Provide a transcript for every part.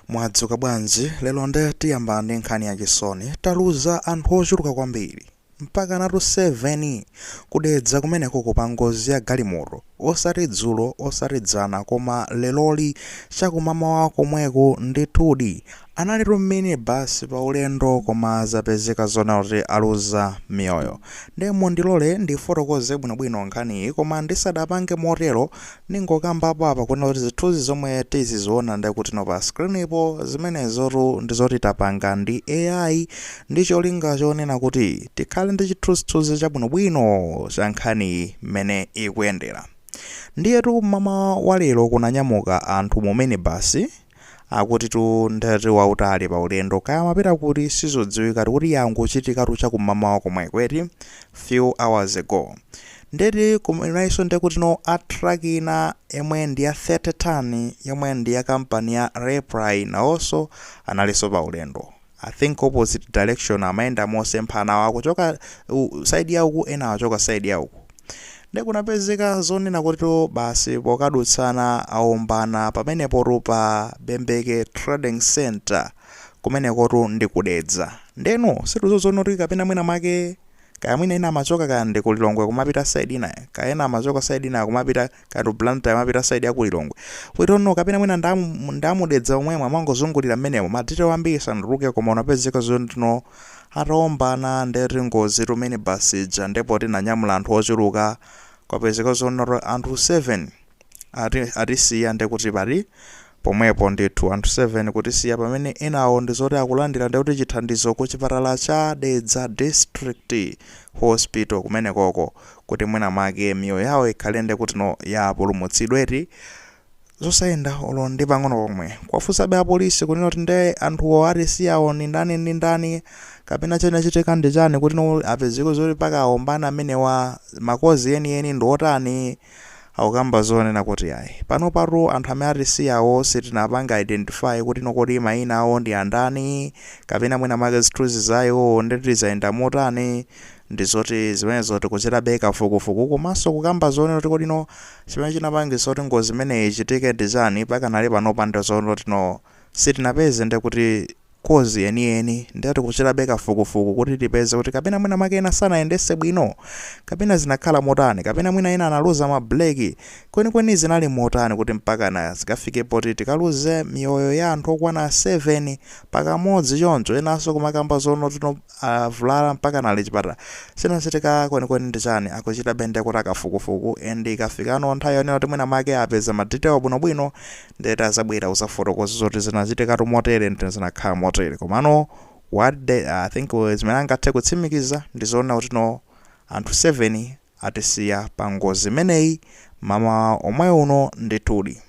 Mwadzuka bwanji? Lero nde tiyamba ndi nkhani ya chisoni. Taluza anthu ochuluka kwambiri. Mpakanatu seveni! Ku Dedza kumenekoko pa ngozi ya galimoto. Osati dzulo, osati dzana, koma leroli, cha kumamawa komweko. Ndithudi, analitu m'mini basi pa ulendo koma zapezeka zoona kuti aluza miyoyo. Nde mundilole ndifotokoze bwinobwino nkhaniyi, koma ndisadapange motero, Ndingokambapo apa kunena zoti zithunzi zomwe tiziziona ndekutino pa screen-po zimenezotu ndi zoti tapanga ndi AI ndi cholinga chonena kuti tikhale ndi chithunzithunzi chabwinobwino cha nkhani mmene ikuyendera. Ndiyetu mmamawa wa lero kunanyamuka anthu mu minibus Akutitu ndeti wautali paulendo kaya amapita kuti sizodziwika poti yangochitikatu chakumamawa komweko eti few hours ago ndeti kwinayinso ndekutino truck ina yomwe ndi ya 30 ton yomwe ndi ya company ya Raiply nawonso analinso paulendo I think opposite direction amayenda mosemphana awo akuchoka side ya uku enawa achoka side ya uku nde kunapezeka zonena kuti basi pokadutsana aombana pamenepotu pa Bembeke Trading Center kumenekotu ndi ku Dedza ndeno sitikudziwano kuti kapena mwina mwake kaya mwina ena amachoka kaya ndi ku Lilongwe kumapita side inayo kaya ena amachoka side inayo kumapita kaya ndi ku Blantyre amapita side ya ku Lilongwe we don't know kapena mwina nda mu Dedza momwemo amangozungulira mmenemo madetail ambiri sanatuluke koma kunapezeka zoti no ataombana ndeti ngozitu minibus ija nde poti inanyamula anthu ochuluka kwapezeka zonoti anthu 7 atisiya ndekuti pa- pomwepo ndithu anthu 7 kutisiya pamene enawo ndizoti akulandira ndikuti chithandizo ku chipatala cha Dedza District Hospital kumenekoko kuti mwina mwake miyoyo yawo ikhale ndikuti no yapulumutsidwa eti zosayenda olo ndi pang'ono pomwe kuwafunsabe apolisi kunena kuti nde anthuwo atisiyawo ndi ndani ndi ndani kapena chinachitika ndi chani kuti no apezeke zoti mpaka aombana amenewa makozi enieni ndi otani Akukamba zonena kuti ayi. Panopatu anthu amene atisiyawo sitinapange identify kuti no kodi mayina awo ndi ndani kapena mwina mwake zithunzi za iwowo ndeti zayenda motani ndi zoti zimenezo tikuchitabe kafukufuku komanso kukamba zonena kuti kodi no chimene chinapangitsa kuti ngozi imeneyi ichitike ndi chani pakanali panopa ndi zonoti no sitinapeze nde kuti kozi yeniyeni ndiye tikuchitabe kafukufuku kuti tipeze kuti kapena mwina mwake ena sanayendese bwino kapena zinakhala motani kapena mwina ena analuza ma brake kwenikweni zinali motani kuti mpakana zikafike poti tikaluze miyoyo ya anthu okwana 7 pakamodzi choncho enanso kumakamba zonoti no avulala mpakana ali chipatala chinachitika kwenikweni ndi chani akuchitabe ndiye kuti kafukufuku and ikafikano nthawi yonena kuti mwina mwake apeza ma detail bwinobwino Nde ati azabwera kuzafotokoza zoti zinachitikatu motere ndi zinakhala motere. Komano what the, I think uh, zimene angathe kutsimikiza ndi zoona kuti no anthu 7 atisiya pa ngozi imeneyi mmawa omwe uno ndithudi.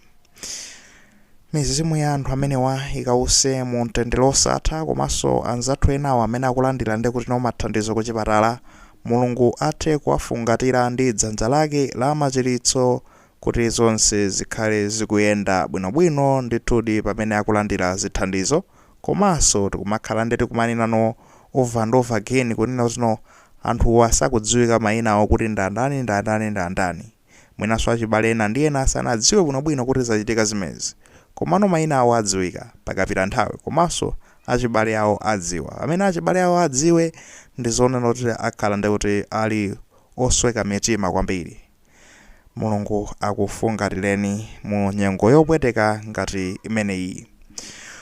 Mizimu ya anthu amenewa ikause mu mtendere osatha komanso anzathu enawo amene akulandira nde kuti no mathandizo ku chipatala Mulungu athe kuwafungatira ndi dzanja lake la machiritso Kuti zonse zikhale zikuyenda bwinobwino ndithudi pamene akulandira zithandizo komanso tikumakhala nde kuti kumanena no over and over again kunena kuti no anthuwa sakudziwika mayina awo kuti ndandani ndandani ndandani mwinanso achibale ena ndi ena sanadziwe bwinobwino kuti zachitika zimenezi komano mayina awo adziwika pakapita nthawi komanso achibale awo adziwa pamene achibale awo adziwe ndizonena kuti akhala ndekuti ali osweka mitima kwambiri Mulungu akufungatireni mu nyengo yopweteka ngati imeneyi.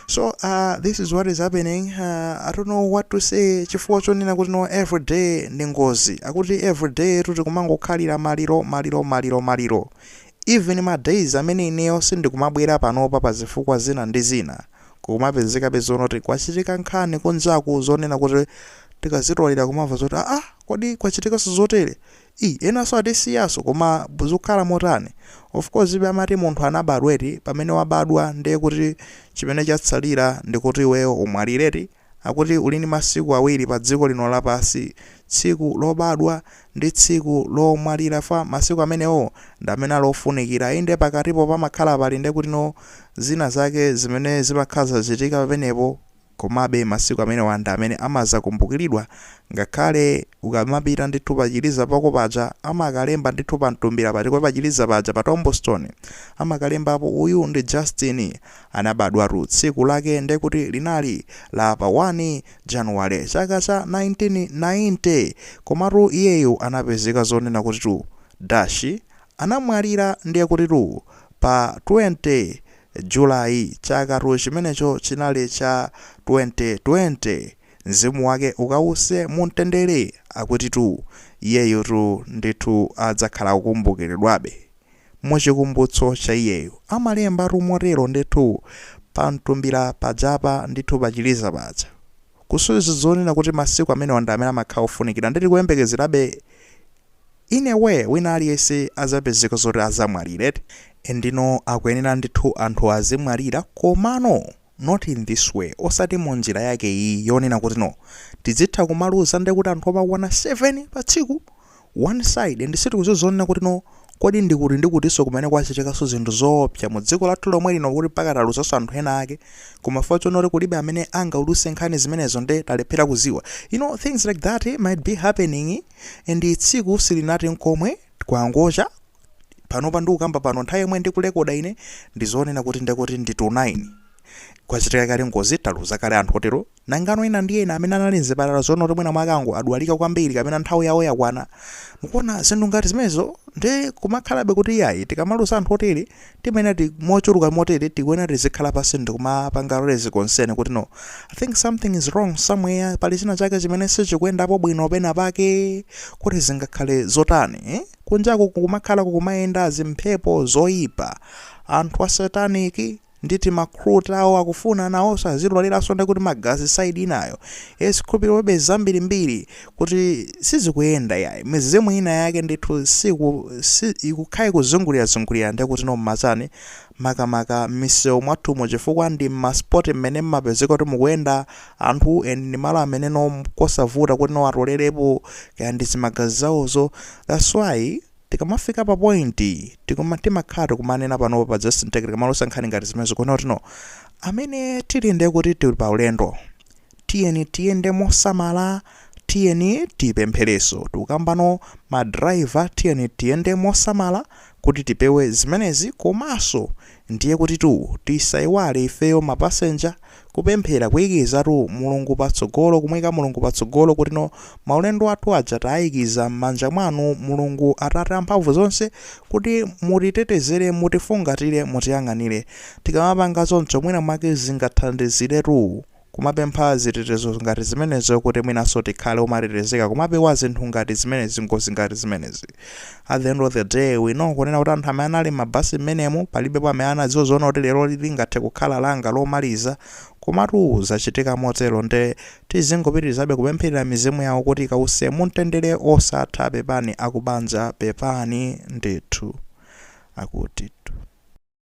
So uh, this is what is happening. Uh, I don't know what to say chifukwa chonena kuti no everyday ndi ngozi akuti everyday kuti kumangokhalira maliro maliro maliro maliro even ma days amene ineyo sindikumabwera panopa pa zifukwa zina ndi zina kukumapezekabe zonena kuti kwachitika nkhani kunjaku zonena kuti tikazitolera kumamva zoti aa kodi kwachitikanso zotere Iii enanso atisiyanso koma zikukhala motani? Of course be amati munthu anabadwa eti, pamene wabadwa nde kuti chimene chatsalira ndikuti iweyo umwalire eti? Akuti uli ndi masiku awiri pa dziko lino lapansi tsiku lobadwa ndi tsiku lomwalira chifukwa masiku amenewo ndi amene ali ofunikira inde pakatipo pamakhala pali nde kuti no zina zake zimene zimakhala zikuchitika pamenepo Komabe, masiku amenewa ndi amene amadzakumbukiridwa, ngakhale ukamapita ndithu pa chiliza pako paja, amakalemba ndithu pa mtumbira pati, ko pa chiliza paja, pa tombstone, amakalembapo, uyu ndi Justin, anabadwatu tsiku lake nde kuti linali la pa 1 Januwale, chaka cha 1990, komatu iyeyo anapezeka zonena kutitu dashi, anamwalira ndiye kutitu pa 20. July, chakatu chimenecho chinali cha 2020. Mzimu wake ukause mu mtendere. Akutitu iyeyotu ndithu adzakhala kukumbukiridwabe mu chikumbutso cha iyeyo. Amalembatu motero ndithu pa mtumbira pajapa ndithu pa chiliza paja. Kusonyeza zonena kuti masiku amenewa ndi amene amakhala ofunikira nde tikuyembekezerabe in a way wina aliyese azapezeka zoti azamwalira and ndino akuyenera ndithu anthu azimwalira komano not in this way osati munjira yake iyi yonena kuti no tidzitha kumaluza ndekuti anthu okwana 7 pa tsiku one side and sitikuziwa zonena kuti no kodi ndikuti ndikutiso kumene kwachitikaso zinthu zoopsa mu dziko lathu lomwe lino kuti mpaka taluzaso anthu ena ake koma chifukwa chonoti kulibe amene angauluse nkhani zimenezo nde talephera kuziwa you know things like that eh, might be happening and tsiku silinathe nkomwe, kwangocha, panopa ndikukamba pano nthawi yomwe ndikulekoda ine ndizonena kuti ndekuti ndi to 9 kwachitika kale ngozi taluza kale anthu otero nangano ena ndi ena amene anali mzipatala zonena kuti mwina mwake angodwalika kwambiri kapena nthawi yawo yakwana mukuona zinthu ngati zimenezo ndi kumakhalabe kuti iyayi tikamaluza anthu otere timanena kuti mochuluka motere tikuyenera tizikhala pansi ndikumapanga raise concern kuti no i think something is wrong somewhere pali china chake chimene sichikuyendapo bwino pena pake kuti zingakhale zotani eh? kunjaku kukumakhala kukumayenda zimphepo zoyipa anthu a sataniki ndi tima recruiter awo akufuna nawonso azitoleraso ndi kuti magazi saidi inayo eh zikhulupiriro be zambirimbiri kuti sizikuyenda yayi mizimu ina yake ndithu siku si, ikukhale kuzungulirazungulira ndekuti no mmachani makamaka m'misewu mwathumo chifukwa ndi ma spot mmene mmapezeka kuti mukuyenda anthu and ndi malo amene no kosavuta kuti no atolerepo kaya ndi zimagazi zawozo that's why tikamafika pa point tikuma timakhala tikumanena panopa pa just ntekere tikamaluza nkhani ngati zimenezi kuona kuti no amene tili ndekuti tili pa ulendo Tiyeni tiyende mosamala, tiyeni tipemphereso. Tikukamba inu ma driver tiyeni tiyende mosamala kuti tipewe zimenezi komaso ndiye kutitu tisaiwale ifeyo ma passenger kupemphera kuikizatu Mulungu patsogolo kumuika Mulungu patsogolo kutino maulendo athu aja taikiza mmanja mwanu Mulungu atate amphamvu zonse kuti mutitetezere mutifungatire mutiyang'anire. Tikamapanga choncho mwina mwake zingathandiziretu. kumapempha zitetezo ngati zimenezo kuti mwinanso tikhale omatetezeka kumapewa zinthu ngati zimenezi ngozi ngati zimenezi at the end of the day we know kunena kuti anthu amene anali m'mabasi mmenemo palibepo amene anadziwa zonena kuti lero lingathe kukhala langa lomaliza komatu zachitika motero nde tizingopitirizabe kupempherera mizimu yawo kuti ikause mumtendere osatha pepani akubanja pepani ndithu akutitu